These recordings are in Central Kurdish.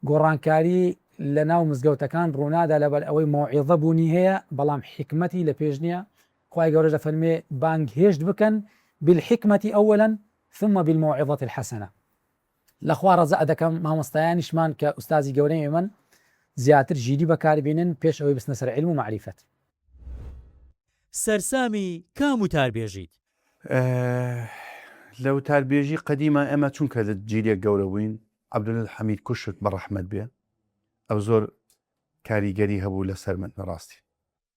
گۆڕانکاری لە ناو مزگەوتەکان ڕوونادا لەبەر ئەوەی مەوعیزە بوونی هەیە بەڵام حیکمەتی لە پێش نیە خوای گەورەش دەفەرموێ بانگ هێشت بکەن بالحکمەتی اولا ثم بالموعظە الحسنە لە خوا ڕەزا دەکەم مامۆستایانیشمان کە ئوستازی گەورەی ئێمەن زیاتر ژیری بەکار بینن پێش ئەوەی بچنە سەر عیلم و مەعریفەت. سەرسامی کام وتار بێژیت؟ ئه لە وتاربێژی قەدیما ئێمە چونکە لە جیلێک گەورە بووین عبدالحمید کوشک بەڕەحمەت بێ ئەو زۆر کاریگەری هەبوو لەسەر من بەڕاستی.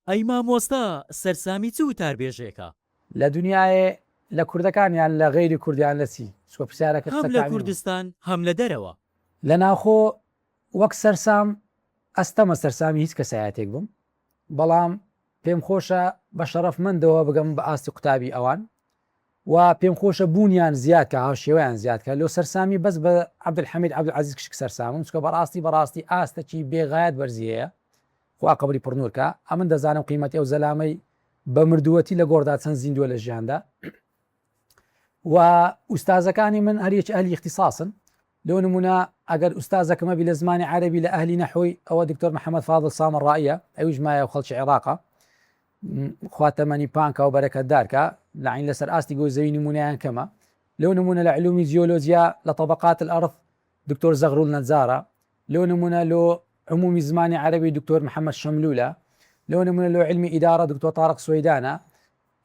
ئەی مامۆستا سەرسامی چ وتاربێژێکە. لە دنیایێ لە کوردەکان یان لە غەیری کورد یان لە چی؟ چوە پرسیارەکە قسە هەم لە کامی بوو. کوردستان هەم لە دەرەوە. لە ناوخۆ وەک سەرسام ئەستەمە سەرسامی هیچ کەسایەتێک بم بەڵام پێم خۆشە بە شەڕەف مەندەوە بگەم بە ئاستی قوتابی ئەوان و پێم خۆشە بوونیان زیاد کا هاوشێوەیان زیاد کا لۆ سەرسامی بەس بە عبدل حمید عبدل عزیز کشک سەرسامم چکە بەڕاستی بەڕاستی ئاستە کی بێ غایەت بەرزی هەیە خوا قەبری پڕنور کا ئەمن دەزانم قیمەتی ئەو زەلامەی بە مردووەتی لە گۆڕدا چەند زیندووە لە ژیاندا و ئوستازەکانی من هەر یەکی ئەهلی ئیختیساسن لۆ نمونە ئەگەر ئوستازەکەمە بی لە زمانی عەرەبی لە ئەهلی نەحوی ئەوە دکتۆر محمد فاضل سامەڕائیە ئەویش مایەو خەڵکی عێڕاقە خوا تەمەنی پانکاو بەرەکەت دارکا لەعین لەسەر ئاستی گۆی زەوی نمونیان کەمە لۆ نمونە لە علومی جیۆلۆجیا لە طبقات الارض دکتۆر زەغرول نەجارە لۆ نمونە لۆ عمومی زمانی عەرەبی دکتۆر محمد شەملولە لۆ نمونە لۆ علمی ئیدارە دکتۆر تارق سوەیدانە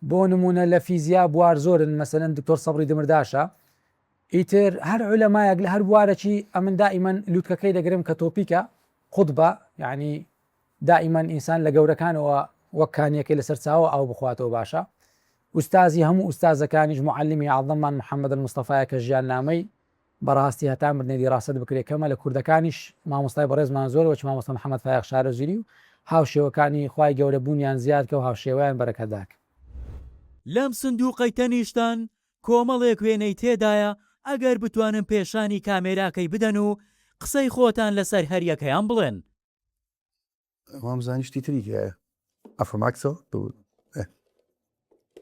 بۆ نمونە لە فیزیا بوار زۆرن مەسەن دکتۆر سەبری دمرداشە ئیتر هەر عولەمایەک لە هەر بوارەکی ئەمن دائیمەن لوتکەکەی دەگرم کە تۆپیکە، قوتبە، یەعنی دائیمەن ئینسان لە گەورەکانەوە وەک کانیەکەی لەسەر چاوە ئاو بخواتەوە باشە، ئوستازی هەموو ئوستازەکانیش موعەلمی ئەعزەممان محمد المصطفایە کە ژیان نامەی بەڕاستی هەتا مردنی دیڕاسەت بکرێ کەمە لە کوردەکانیش مامۆستای بەڕێزمان زۆر وەک مامۆستا محمد فایەق شارەزوری و هاوشێوەکانی خوای گەورە بوونیان زیاد کە و هاوشێوەیان بەرەکەتدار کە. لەم سندوقەی تەنیشتان کۆمەڵێک وێنەی تێدایە ئەگەر بتوانن پێشانی کامێراکەی بدەن و قسەی خۆتان لەسەر هەریەکەیان بڵێن. وامزانی شتی تری تیایە ئەفرۆماکسەوە ببورن ئێ.